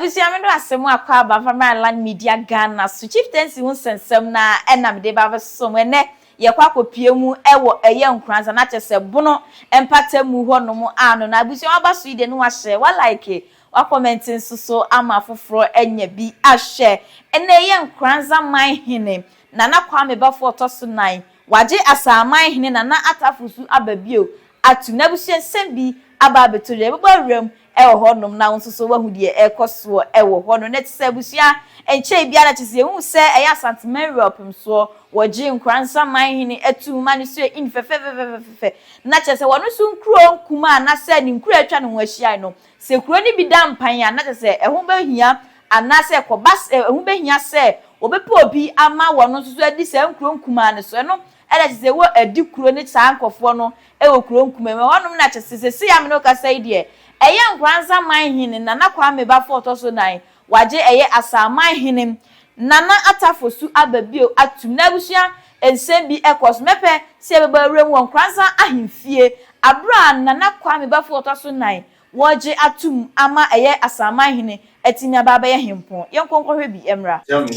Abusua me do asɛm mu akɔ aba mfa mmra Lan Media Ghana so Chieftaincy ho nsɛnsɛm no ara na mede ba abɛsosɔ mu ɛnnɛ yɛkɔ akɔpue mu wɔ Ɛyɛ Nkoranza na kyerɛ sɛ Bono mpata mu hɔ nom a no na abusua waba so yi deɛ ne wahyɛ wa like wa comment nso so ama afoforɔ anya bi ahwɛ ɛnnɛ Ɛyɛ Nkoranza man hene Nana Kwame Bafo ɔtɔ so nan, wagye Asaman hene Nana Atafo su aba bio atom, n'abusua nsɛm bi aba abɛtɔ dwa, yɛbɛbɔ awura mu wɔ hɔ nom na wo nso so woahu deɛ ɛrekɔ soɔ wɔ hɔ nom. Ɛnɛ te sɛ abusua ɛnkyɛe biara na kyerɛ sɛ yɛhuu sɛ ɛyɛ Asanteman wura ɔpem soɔ, wɔgyee Nkora Nsaman hene atum ma ne so yɛ in fɛfɛfɛfɛfɛfɛ na kyerɛ sɛ wɔno nso nkuro nkumaa anasɛ ne nkuro a atwa ne ho ahyiae no Sɛ kuro no bi da mpan a, na kyerɛ sɛ ɛho bɛhia anaasɛ kɔba sɛ ɛho bɛhia sɛ wɔbɛpɛ obi ama wɔn nso so adi saa nkuro nkumaa no so. Ɛno na kyerɛ sɛ wɔadi kuro ne saa nkorɔfoɔ no wɔ kuro nkumaa mu. Ɛhɔnom na kyerɛ sɛ seesei a me ne wo kasa yi deɛ, ɛyɛ Nkoranza man hene Nana Kwame Bafo a ɔtɔ so nan, Wagye ɛyɛ Asaman hene Nana Atta Fosu aba bio atom na abusua nsɛm bi kɔ so. Mɛpɛ sɛ yɛbɛbɔ awuram wɔ Nkoransan ahemfie bere a Nana Kwame Bafo a ɔtɔ so nnan wɔregye atom ama ɛyɛ Asaman hene atumi aba abɛyɛ hempɔn. Yɛnkɔ nkɔhwɛ bi mmra. Hyia me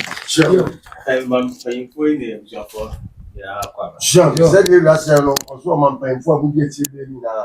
sɛdeɛ wiase yɛ no, ɔsoro ɔmampanyimfoɔ a mudi akyire berɛ nyinaa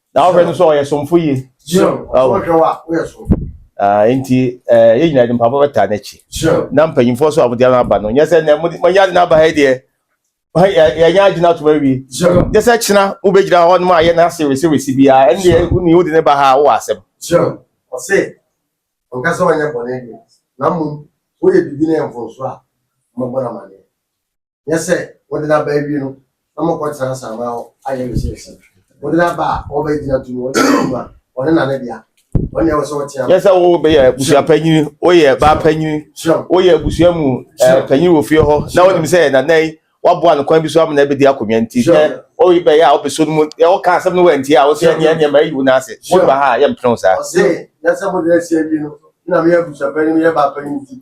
na wohwɛ no sɛ ɔyɛ somfo yie nti yɛ nyina de mpaboa bɛtaa n'akyi na mpanyimfoɔ so a mode ano aba no nyɛ sɛ nɛ monyɛ ade no aba ha deɛ yɛnyɛ agyina atom awie gye sɛ kyena wobɛgyina hɔ nom ayɛ no ase weserese biaa ɛndeɛ wone wode ne ba ha wowɔ asɛm ɔse ɔnka sɛ ɔnyɛ bɔne deɛ na mmom woyɛ biribi no yɛ mfonso a mɔbɔ no amaneɛ Nyɛ sɛ wode no aba awie no na mokɔtena asaama hɔ ayɛ research. Wode no aba a wɔbɛgyina to mu, wɔde no mu a wɔne na ne dea. Wɔne ɛwɔ sɛ wɔtea. Nyɛ sɛ wobɛyɛ abusua panyini, woyɛ ba panyini, woyɛ abusua mu eh, panyini wɔ fie hɔ na wonim sɛ nana yi waboa no kwan bi so ama na ɛbɛdi akonnwa nti sɛ ɔyi bɛyɛ a wobɛso no mu wɔka asɛm no wantie a wosɛ neɛ neɛ ma ayi wo no ase wode ba ha a yɛmpene wo saa ɔse nyɛ sɛ mode no asie awie no na meyɛ abusua panyini meyɛ ba panyini nti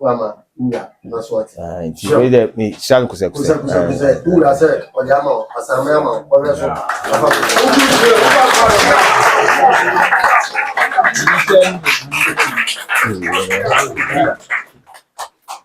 wama wura na so ɔte. Ah, nti wei dɛ me hyira no kosɛ kosɛ. Kosɛ kosɛ kosɛ wura sɛ ɔde ama wo asanme ama wo ɔhwɛ so.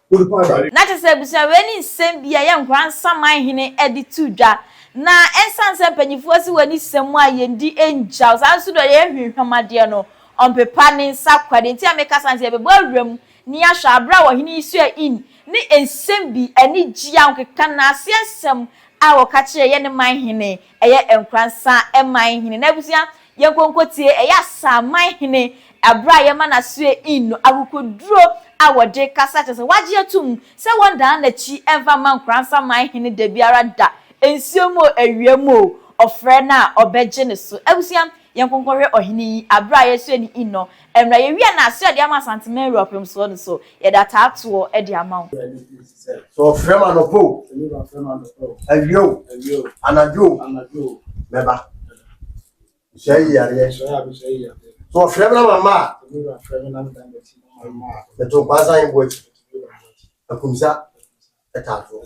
na kyerɛ sɛ abusua wei ne nsɛm bi a yɛ nkora nsaman hene de to dwa na ɛnsan sɛ mpanyinfoɔ si wɔ ne sɛm a yɛn di ngyaw saa nso dɔ yɛ hwehwɛm adeɛ no ɔmpepa ne nsa kwa deɛ nti a mekasa nti yɛbɛbɔ awura mu Nea hwɛ abere a ɔhene yi soɛ in ne nsɛm bi anigye a ɔkeka n'ase nsɛm a ɔka kyerɛ yɛ ne man hene ɛyɛ nkoransa man hene n'abusua yɛ nkonkotie ɛyɛ asaa man hene abere a yɛma n'asoɛ in no akokoduro a ɔde kasa kyerɛ sɛ wagye atum sɛ wɔn dan n'akyi ɛnfa mma nkoransa man hene dabiara da nsuo mu o awia mu o ɔfrɛ no a ɔbɛgye ne so abusua yɛ nkonkohwɛ ɔhene yi abere a yɛsoɛ no in no Mmerɛ yɛwie a na aseɛ ɔde ama Asante man wura ɔpem soɔ no so yɛde ataa toɔ de ama wo. Sɛ ɔfrɛ me anɔpa o, awia o, anadwo o, mɛba. Mehyɛ yi yareɛ. Sɛ ɔfrɛ me na mamma a, meto nkwaasa he boɔ akyi, akumsa. Ɛtato.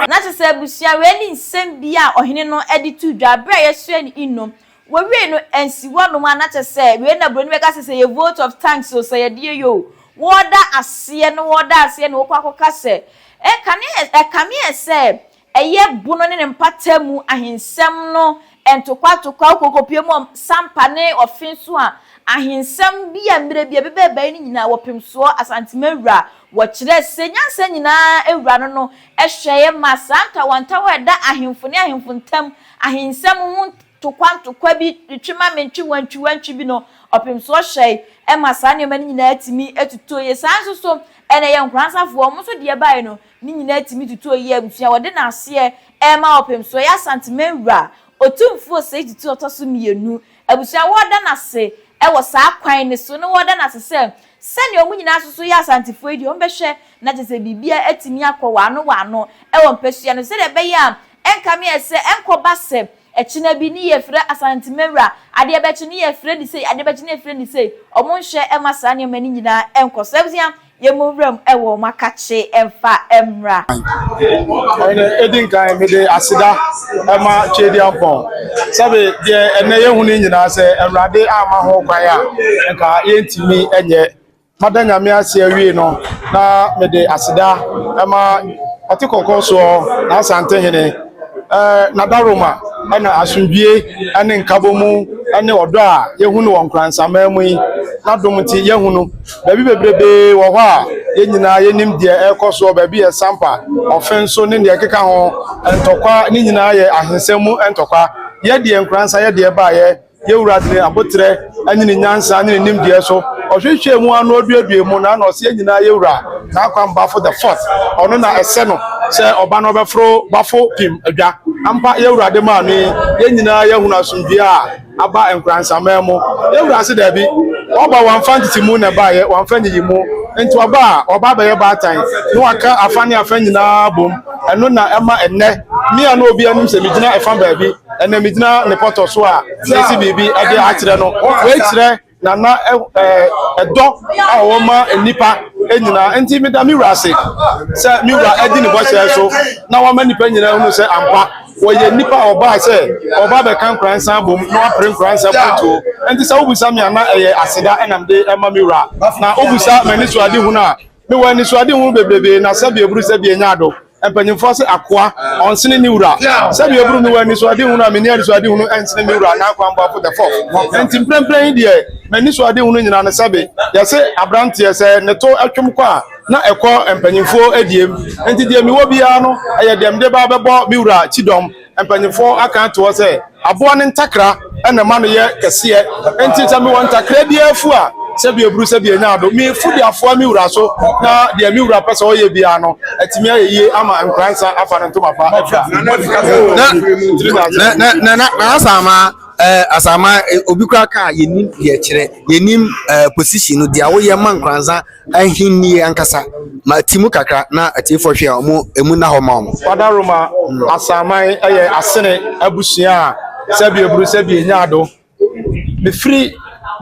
Na kyerɛ sɛ abusua wei ne nsɛm bi a ɔhene no de too dwa bere a yɛsoɛ ne nnom Wowiei no ansi hɔnom a na kyerɛ sɛ wei na buroni bɛka sɛ sɛ yɛ vote of thanks o, sɛ yɛde yɛ yɛ o. Wɔda aseɛ no wɔda aseɛ na wɔkɔ akɔka sɛ ɛkane ɛ ɛkame ɛ sɛ ɛyɛ Bono ne ne mpata mu ahensɛm no ntokwa ntokwa wokɔ wokɔpue mu wɔ Sampa ne Ɔfe nso a ahensɛm bi a mmerɛ bi ɛbɛba ɛbaeɛ no nyinaa wɔpem soɔ Asantema awura wɔkyerɛ sɛ nyansa nyinaa awura no no hwɛeɛ maa saa ntawantawa a ɛda ahemfo ne ahemfo ntam ahensɛm ho Ntokwa ntokwa bi retwe ma mentwe wantwi wantwi bi no, ɔpem so ɔhyɛe ɛma saa nneɛma no nyinaa tumi tutuo yie. Saa nso so, ɛna ɛyɛ Nkoransafoɔ, wɔn nso deɛ ɛbaeɛ no, ne nyinaa tumi tutuo yie. Abusua a wɔde no aseɛ ɛrema ɔpem so ɛyɛ Asanteman Wura Otumfuo Osei Tutu Ɔtɔ so Mmienu abusua a wɔreda no ase ɛwɔ saa kwan no so, na wɔreda no ase sɛ sɛdeɛ wɔn nyinaa nso so yɛ Asantefoɔ yi deɛ wɔbɛhwɛ na kyerɛ sɛ biribiara atumi akɔ wɔano wɔano ɛwɔ mpasua no so sɛdeɛ ɛbɛyɛ a Ɛnkame ɛ sɛ, ɛnkɔba sɛ, ɛkyena bi ne yɛfrɛ Asantemawura, adeɛ bɛkye ne yɛfrɛ no sei, adeɛ bɛkye ne yɛfrɛ no sei. Wɔn nhwɛ mma saa nneɛma no nyinaa nkɔ so. Abusua, yɛmmɔ nwura mu wɔ wɔn akakye mfa mmra. Ɔhene, edi nkan mede aseda ma Tweaduampɔn, sɛbe deɛ ɛnnɛ yɛhu no nyinaa sɛ Awurade amma ho kwan a nka yɛntumi nyɛ. Mada Nyame ase awie no, na mede aseda ma Ɔte Kɔnkɔn soɔ, N'Asante Hene, N'adaworoma na asomdwie ne nkabɔmu ne ɔdɔ a yɛhu no wɔ Nkoransaman mu yi, N'adom nti yɛahu no baabi bebrebee wɔ hɔ a yɛn nyinaa yɛnim deɛ ɛrekɔ soɔ, baabi yɛ sampa, ɔfenso ne deɛ ɛkeka ho, ntɔkwa, ne nyinaa yɛ ahensɛm mu ntɔkwa. Yɛ deɛ Nkoransa yɛ deɛ ɛbaeɛ. Yɛn Wura de ne aboterɛ ne ne nyansa ne ne nimdeɛ so ɔhwehwɛɛ mu ara na ɔduaduae mu, na na ɔse yɛn nyinaa yɛ Wura, N'akwam Bafo the Fourth, ɔno na ɛsɛ no sɛ ɔba na ɔbɛforo Bafo Pim adwa. Ampa, yɛn Wura de maa me, yɛn nyinaa yɛahunu asomdwie a aba nkoransaman mu. Yɛn Wura se daabi, Ɔba wamfa ntetemu na ɛbaeɛ, wamfa nyiyimu nti ɔba a, ɔba abɛyɛ baatan na waka afa ne afa nyinaa abom, ɛno na ɛma ɛnnɛ me a na obiara nim sɛ megyina ɛfa baabi, Ɛnna megyina ne pɔtɔ so a mesi biribi de akyerɛ no. Wei kyerɛ Nana ɛdɔ a ɔwɔ ma nnipa nyinaa. Enti meda me wura ase sɛ me wura adi ne bɔhyɛ so na wama nnipa nyinaa hunu sɛ ampa wɔyɛ nnipa a wɔbaa sɛ wɔba bɛka nkoransa abom na wɔapere nkoransa butuo. Enti sɛ wobisa me a na ɛyɛ aseda na mede ma me wura. Na wobisa m'anisoadehunu a, mewɔ anisoadehunu bebrebe na sɛbi eburu sɛbi enya ado. Mpanyimfoɔ se akoa, ɔnsene ne wura. Sɛdeɛ ebunu me wɔ anisoadehunu a menni anisoadehunu nsene me wura anaa kwammɔfo the fourth. Enti mprempren yi deɛ, m'anisoadehunu nyina no sɛbe yɛse abranteɛ sɛ ne to twem kɔ a, na ɛkɔ mpanyimfoɔ diem. Enti deɛ mewɔ biara no, ɛyɛ deɛ mede ba bɛbɔ me wura kyidɔm. Mpanyimfo aka ato hɔ sɛ aboa no ntakra na ɛma no yɛ kɛseɛ, enti sɛ mewɔ ntakra biara afu a, sɛbi aburu sɛbi anya ado, mefu de afoa me wura so, na deɛ me wura pɛ sɛ ɔyɛ biara no, atumi ayɛ yie ama nkoransa afa ne ntoma pa afira. Eh, Asaama, eh, obi kura kaa, yenim deɛ kyerɛ, yenim eh, position no, deɛ woyɛ ma nkransa Ahenni ankasa. Mate mu kakra na atiefo hwɛ a wɔn emu nna hɔ ma wɔn. Father Roma Asaman yɛ Asene abusua a sɛbea buru sɛbea nyaa do. Mefiri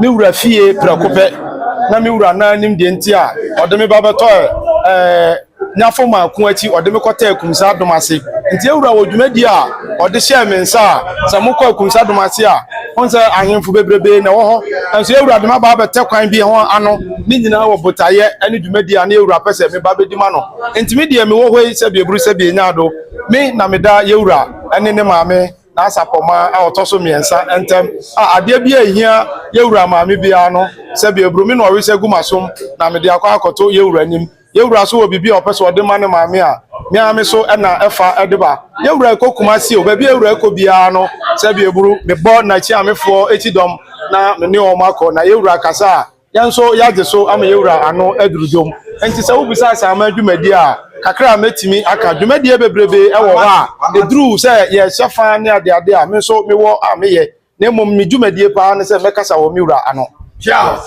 me wura fie prɛko pɛ na me wura nan nim deɛ nti a ɔde me ba bɛtɔɔ ɛɛ. ne afɔmaa ko akyi, ɔde me kɔtɛɛ Kumsadom ase. Nti Ewura wɔ dwumadie a ɔde hyɛɛ me nsa a, sɛ mokɔ Akumsadom ase a, mohu sɛ ahenfo bebrebee na ɛwɔ hɔ. Nanso Ewura de me aba abɛtɛ kwan bi ho ano, ne nyinaa wɔ botaeɛ ne dwumadie a na Ewura pɛ sɛ me ba bɛdi ma no. Nti me deɛ mewɔ hɔ yi sɛ bieburu sɛ bienyaado, me na meda Ewura ne ne maame, n'asapɔmaa a ɔtɔ so mmiɛnsa, ntam. A adeɛ biara a ɛhia Ewura maame biara no, sɛ bieburu, me na ɔwesɛ gu m'asom na mede akɔ akɔto Ewura anim. Yɛn wura nso wɔ biribi a ɔpɛ sɛ ɔde ma ne maame a me ara me so na ɛfa de ba. Yɛn wura rekɔ Kumasi o, baabi a yɛn wura rekɔ biara no, sɛ bi aburu, mebɔ n'akyiamefoɔ kyidɔm na me ne wɔn akɔ. Na yɛn wura kasa a, yɛn nso yɛagye so ama yɛn wura ano aduru dwom. Enti sɛ wobisa asaman dwumadie a, kakra a mɛtumi aka, dwumadie bebrebe wɔ hɔ a, ɛduru sɛ yɛhyɛ fa ne adeade a, me nso mewɔ a meyɛ. na mmom me dwumadie paa ne sɛ mɛkasa wɔ me wura ano. Charles.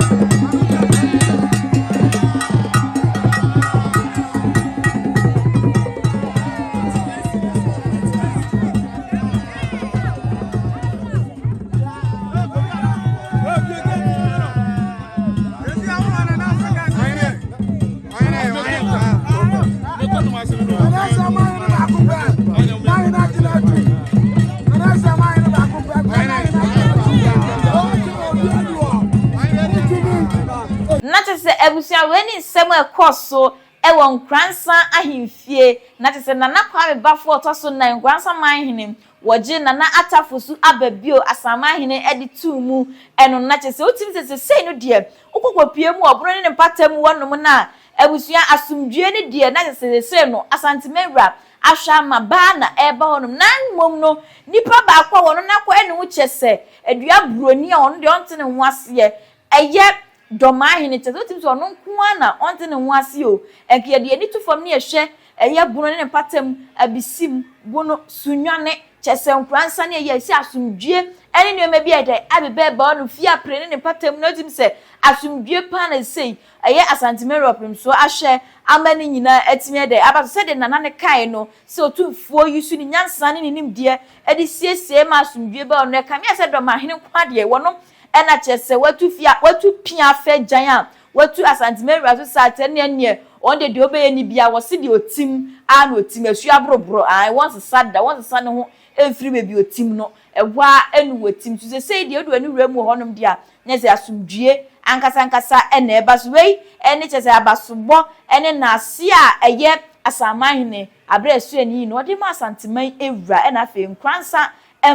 na kyerɛ sɛ abusua wei ne nsɛm a ɛkɔɔ so wɔ Nkoransan ahemfie, na kyerɛ sɛ Nana Kwame Bafo a ɔtɔ so nnan, Nkoransan manhene, Wɔgye Nana Attafo so aba bio Asanman hene de too mu ɛno na kyerɛ sɛ wotumi sɛ sesei no deɛ wokɔ kɔpue mu wɔ ɔbono ne ne mpata mu hɔ nom na abusua asomdwoeɛ no deɛ na kyerɛ sɛ sesei no Asanteman wura ahwɛ ama baa na ɛreba hɔ nom na mmom no nipa baako a wɔno no akɔ ɛne ho kyerɛ sɛ adua buroni a ɔno deɛ ɔnte ne ho aseɛ ɛyɛ dɔ maa hene kyɛ sɛ otumi sɛ ɔno nko ara na ɔnntse ne ho ase o, nka yɛde yɛn ani to fam na yɛhwɛ ɛyɛ bono ne ne mpata mu, abisim, bono, sunnwane, kyɛ sɛ nkora nsa ne ɛyɛ sɛ asomdwie ne nneɛma bi a ɛda abeba ɛbaa no fie apere ne ne mpata mu na otumi sɛ asomdwie paa na sesei ɛyɛ Asante Mary Ɔpem so ahwɛ ama ne nyinaa atumi ɛdɛ aba so sɛdeɛ Nana no kaeɛ no sɛ Otumfoɔ yi so ne nyansa ne ne nimdeɛ de siesiee ma asomdwie baa no ɛkame ayɛ sɛ dɔmahene nko ara deɛ wɔnom Ɛna kyerɛ sɛ watu fie a watu pia afɛ gyan a watu Asante Maria so saa tɛ ne ɛneɛ wɔn deɛ deɛ ɔbɛyɛ ne bia wɔse deɛ ɔtim aa na ɔtim asuo aboroborɔ ae wɔnsesa da wɔnsesa ne ho mfiri baabi ɔtim no ɛhɔ aa ɛne wɔtim so sesei deɛ ɔdu ne wura mu wɔ hɔ nom deɛ a ne sɛ asomdwie ankasa ankasa ɛna ɛba so wei ɛne kyerɛ sɛ abasobɔ ɛne naase a ɛyɛ Asanmanhene aberɛ a ɛsoɛ ne yie no ɔde maa Asanteman wura ɛna afei Nkoransa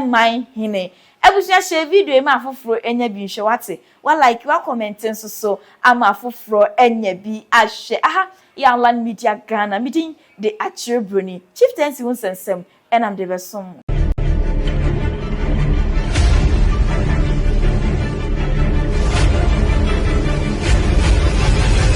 man hene Abusua share video yi ma afoforo nya bi nhwɛ wate, wa like wa comment nso so ama afoforɔ anya bi ahwɛ aha yɛ Anlan Media Ghana me din de Akyere Broni Chieftaincy wo nsɛnsɛm na mede bɛsom mo.